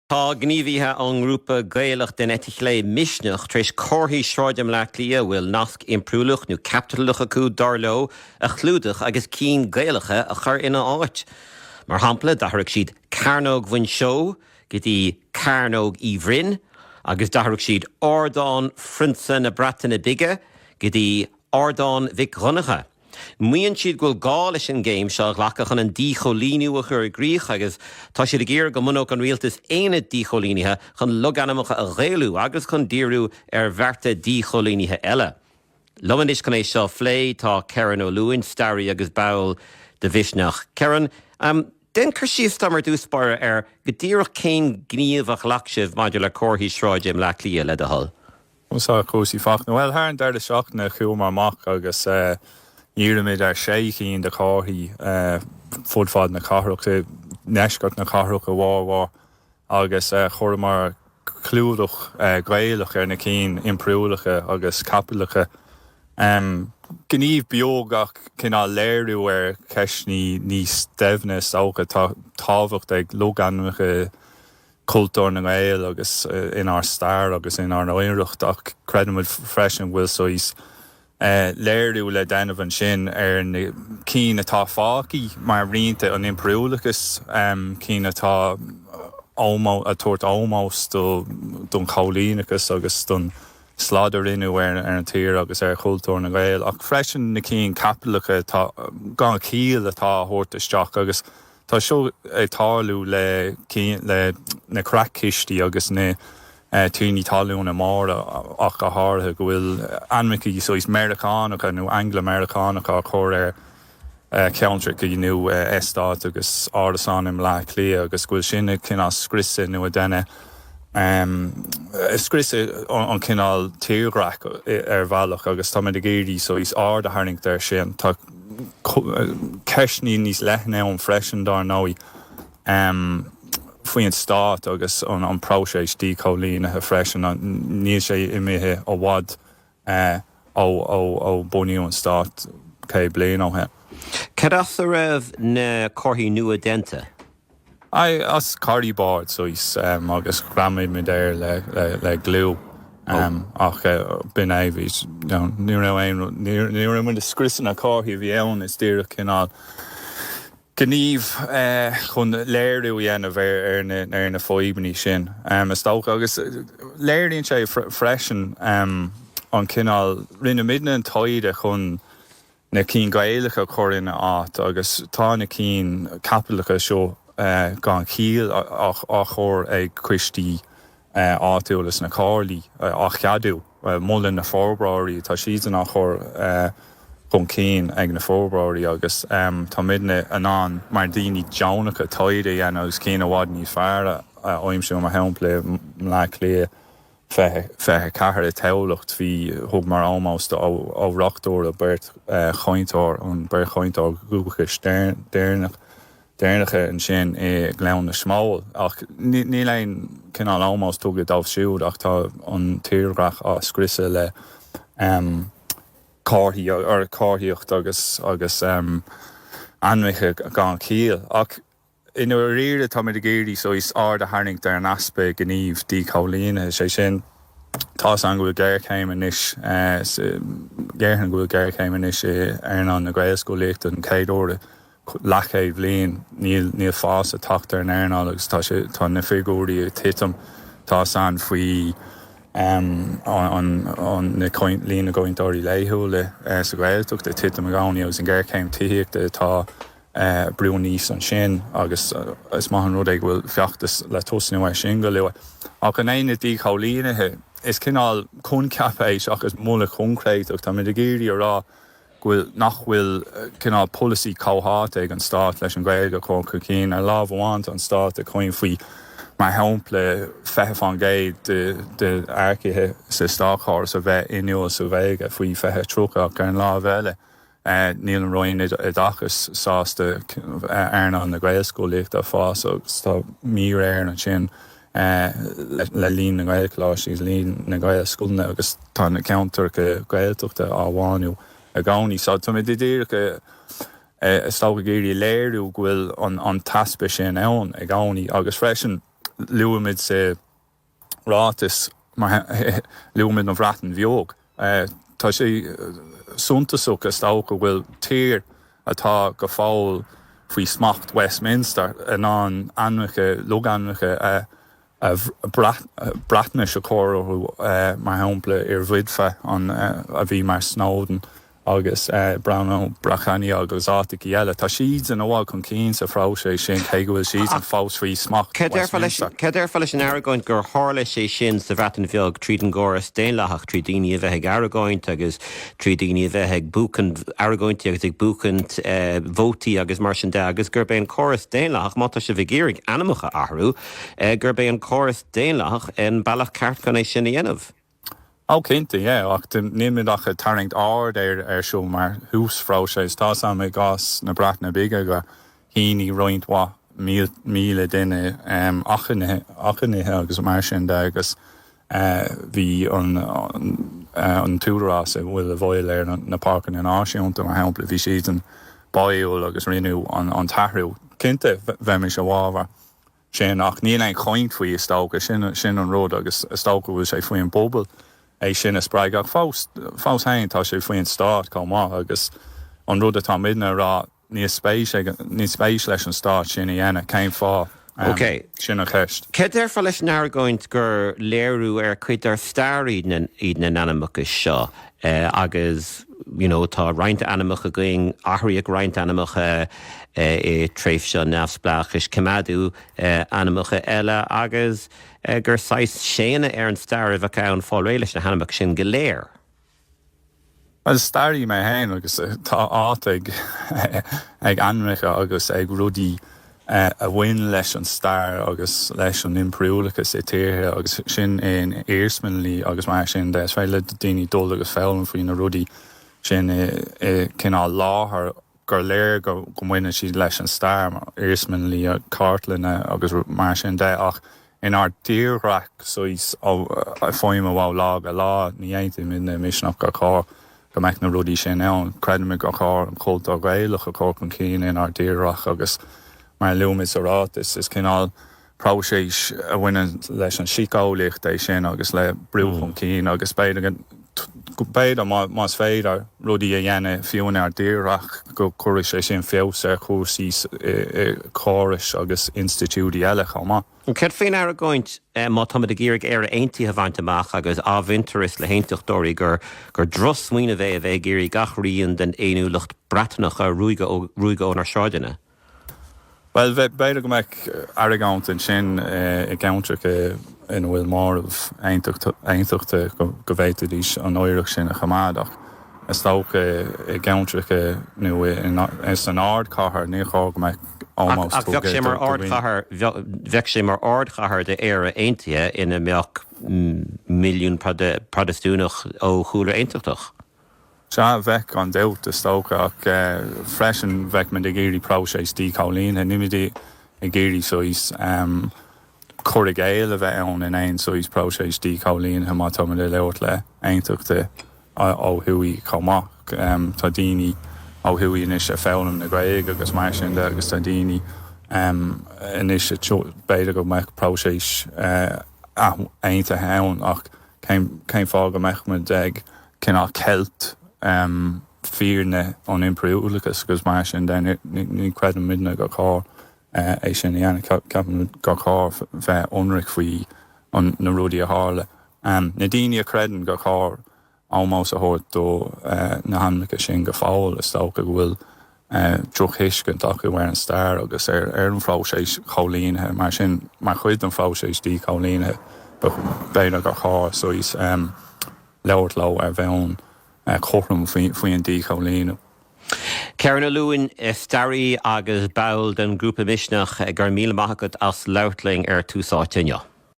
Tá gníomhaithe ón ngrúpa Gaelach den eite chlé Misneach tar éis comharthaí sráide i mBleá Cliath a bhfuil nasc impiriúlach nó caipitleach acu, dar leo, a chlúdach agus cinn Gaelacha a chur ina áit. Mar shampla, d'athraigh siad Cearnóg Mhuinseo go dtí Cearnóg Uí Bhroin agus d'athraigh siad Ardán Phrionsa na Breataine Bige go dtí Ardán Mhic Dhonncha. Maíonn siad go bhfuil gá leis an gcéim seo a ghlacadh chun an díchoilíniú a chur i gcrích agus tá siad ag iarraidh go mbunódh an rialtas aonad díchoilínithe chun logainmneacha a ghaelú agus chun díriú ar bhearta díchoilínithe eile. Liom anois chun é seo a phlé tá Kerron Ó Luain, staraí agus ball de Mhisneach. Kerron, déan cur síos dom ar dtús báire ar go díreach cén gníomh a ghlac sibh maidir le comharthaí sráide i mBleá Cliath, le do thoil. Conas tá cúrsaí, Fachtna? Bhuel, thar an deireadh seachtaine chuamar amach agus dhírigh muid ar shé chinn de chomharthaí fud fad na cathrach, i ndeisceart na cathrach a bhformhór, agus chuireamar clúdach Gaelach ar na cinn impiriúlacha agus caipitleacha. Gníomh beag ach cineál léiriú ar cheisteanna níos doimhne is dócha. Tá tábhacht ag logainmneacha. chultúr na nGael agus inár stair agus inár n-oidhreacht ach creideann muid freisin go bhfuil saghas léiriú le déanamh ansin ar na cinn atá fágtha mar rianta an impiriúlachais, cinn atá ag tabhairt ómós don choilíneachas agus don slad a rinneadh ar an tír agus ar chultúr na nGael ach freisin na cinn caipitleacha atá gan chiall atá á thabhairt isteach agus. Tá seo ag tarlú le na creach-chistí agus na tiarnaí talúna móra ach go háirithe, go bhfuil ainmneachaí saghas Meiriceánacha nó Angla-Meiriceánacha á chur ar cheantrachaí nó eastáit agus árasáin i mBleá Cliath agus go bhfuil sin ag cineál scriosadh nó ag déanamh scriosadh an cineál tírdhreach ar bhealach agus tá muid ag iarraidh saghas aird a tharraingt ar sin. Tá. Ceisteanna níos leithne ann freisin, dár ndóigh, faoin stát agus an próiseas díchoilínithe freisin. Níl sé imithe i bhfad ó bunaíodh an stát céad bliain ó shin. Cad as a raibh na comharthaí nua déanta? Aye, as corriboard saghas, agus ghreamaigh muid air le gliú, ach b'in é, bhí, ní raibh aon, ní raibh muid ag scriosadh na comharthaí a bhí ann, is díreach cineál gníomh chun léiriú a dhéanamh ar na fadhbannaí sin, is dócha, agus léiríonn sé freisin an cineál, rinne muidne an taighde chun, na cinn Gaelacha a chur ina áit agus tá na cinn caipitleacha seo gan chiall á chur ag coistí áitiúla sna Comhairlí á cheadú. Molann na forbróirí, tá siadsan á chur chun cinn ag na forbróirí agus tá muidne in ann mar daoine deonacha taighde a dhéanamh agus cinn i bhfad níos fearr a aimsiú mar shampla i mBleá Cliath 24 i dTamhlacht. Bhí, thugamar ómós do Ó Reachtúra beirt chainteoir, an beirt chainteoir dhúchais deireanacha ansin i nGleann na Smól. Ach níl aon chineál ómós tugtha dóibh siúd ach tá an tírdhreach á scriosadh le comharthaí, comharthaíocht agus ainmneacha gan chiall. Ach. I ndáiríre, táimid ag iarraidh saghas aird a tharraingt ar an easpa gníomh díchoilínithe, sé sin, tá's agam go bhfuil géarchéim anois, déarfainn go bhfuil géarchéim anois i earnáil na Gaelscolaíochta don chéad uair i leathchéad bhliain, níl fás ag teacht ar an earnáil agus tá sé, tá na figiúirí ag titim, tá's agam faoi an líon na gcainteoirí laethúla sa Ghaeltacht ag titim i gcónaí agus an géarchéim tithíochta atá. brú aníos ansin agus is maith an rud é go bhfuil feachtas le tosnú air sin go luath. Ach in éineacht díchoilínithe, is cineál coincheap é seachas moladh coincréiteach. Táimid ag iarraidh a rá go bhfuil, nach bhfuil cineál polasaí comhtháite ag an stát leis an Ghaeilge a chur chun cinn. Ar lámh amháin tá an stát ag caint faoi, mar shampla, 20% de earcaithe sa státchóras a bheith inniúil sa Ghaeilge faoi 2030 ach ar an lámh eile, Níl an Roinn Oideachais sásta earnáil na Gaelscolaíochta a fhás agus tá míréir ansin le líon na nGaelcholáistí agus líon na nGaelscoileanna agus tá na ceantracha Gaeltachta á bhánú i gcónaí. So tá muid díreach, is dócha, ag iarraidh a léiriú go bhfuil an t-easpa sin ann i gcónaí agus freisin luaimid sa. ráiteas luaimid an Bhreatain Bheag. Tá sé suntasach is dócha go bhfuil tír atá go fóill faoi smacht Westminster in ann ainmneacha, logainmneacha Breatnaise a chóiriú, mar shampla Yr Wyddfa, a bhí mar Snowdon, agus Bannau Brycheiniog agus áiteacha eile. Tá siad in ann a ghabháil chun cinn sa phróiseas sin, cé go bhfuil siadsan fós faoi smacht. Céard a déarfá leis an argóint gur tharla sé sin sa Bhreatain Bheag tríd an gcóras daonlathach, tríd daoine a bheith ag argóint agus tríd daoine a bheith ag buachaint argóintí agus ag buachaint vótaí agus mar sin de, agus gurb é an córas daonlathach, má tá sibh ag iarraidh ainmneacha a athrú, gurb é an córas daonlathach an bealach ceart chun é sin a dhéanamh? Ó, cinnte, yeah, ach nílimid ach ag tarraingt aird air ar seo mar thús phróiseas. Tá's agam i gcás na Breataine Bige gur shínigh roinnt mhaith míle duine achainíocha agus mar sin de agus bhí an t-údarás a bhfuil i bhfeighil ar na páirceanna náisiúnta, mar shampla, bhí siadsan báúil agus rinneadh an t-athrú. Cinnte, bheimis i bhfabhar. sin, ach níl aon chaint faoi, is dócha. Sin, sin an rud, agus is dócha go bhfuil sé faoin bpobal é sin a spreagadh, ach fós, fós féin, tá sé faoin stát chomh maith, agus an rud atá muidne a rá, níl spéis ag, níl spéis leis an stát sin a dhéanamh, cén fáth? Ok. Sin an cheist. Céard déarfá leis an argóint gur léiriú ar chuid dár stair iad na, iad na hainmneacha seo? Eh agus you know tá roinnt ainmneacha againn, athraíodh roinnt ainmneacha eh i tréimhse an neamhspleáchais, coimeádadh eh ainmneacha eile agus eh gur saghas séanadh ar an stair a bheadh ann fáil réidh leis na hainmneacha sin go léir. Bhuel is staraí mé féin agus tá áit ag eh ag ainmneacha agus ag rudaí a bhain leis an stair agus leis an impiriúlachas i dtíortha, agus sin é an iarsmalann agus mar sin de. Is féidir le daoine dul agus foghlaim faoi na rudaí sin i gcineál láthair gur léir go mbaineann siad leis an stair iarsmalanna, cartlanna agus mar sin de, ach Inár dtírdhreach saghas i bhfeidhm ó lá go lá, ní aontaímid i Misneach gur chóir go mbeadh na rudaí sin ann. Creidimid gur chóir an cultúr Gaelach a chur chun cinn inár dtírdhreach agus, mar a luaimid sa ráiteas, is cineál próiseas a bhaineann leis an síceolaíocht é sin agus le brú chun cinn agus b'fhéidir go go b'fhéidir, más féidir rudaí a dhéanamh fiú in ár dtírdhreach, go gcuirfeadh sé sin feabhas ar chúrsaí i gcórais agus institiúidí eile chomh maith. Céard faoin argóint, má táimid ag iarraidh Éire Aontaithe a bhaint amach agus athmhuintearas le hAontachtóirí, gur drochsmaoineamh é a bheith ag iarraidh gach rian den fhéiniúlacht Bhriotanach a ruaigeadh ónár sráideanna? Bhuel, b'fhéidir go mbeadh argóint ansin i gceantracha ina bhfuil móramh aontachtach, go bhféadfaidís an oidhreacht sin a choimeád, ach is dócha i gceantracha nó san ardchathair níor chóir go mbeadh ómós. Ach bheadh sé mar ardchathair, bheadh sé mar ardchathair d'Éire aontaithe ina mbeadh milliún Protastúnach ó chúlra aontachtach. Sea, bheadh, gan dabht, is dócha, ach freisin bheadh muid ag iarraidh próiseas díchoilínithe, níl muid ag iarraidh saghas cur i gcéill a bheith ann in aon saghas próiseas díchoilínithe má tá muid ag labhairt le haontachtaithe ó thuaidh chomh maith. Tá daoine ó thuaidh anois ag foghlaim na Gaeilge agus mar sin de agus tá daoine anois, b'fhéidir go mbeadh próiseas aontaithe ann ach, Cén fáth go mbeadh muid ag cineál ceilt fírinne an impiriúlachais agus mar sin de? Ní chreideann muidne gur chóir é sin a dhéanamh. Ceapann muid gur chóir bheith ionraic faoi na rudaí a tharla. Na daoine a chreideann gur chóir ómós a thabhairt do na hainmneacha sin go fóill, is dócha go bhfuil drochthuiscint acu ar an stair agus ar an phróiseas cóilínithe. Mar sin, mar chuid den phróiseas díchóilínithe, b'fhéidir gur chóir, saghas, labhairt leo ar bhonn cothrom faoi an díchóilíniú. Kerron Ó Luain, staraí agus ball den ghrúpa Misneach, go raibh míle maith agat as labhairt linn ar Tús Áite inniu.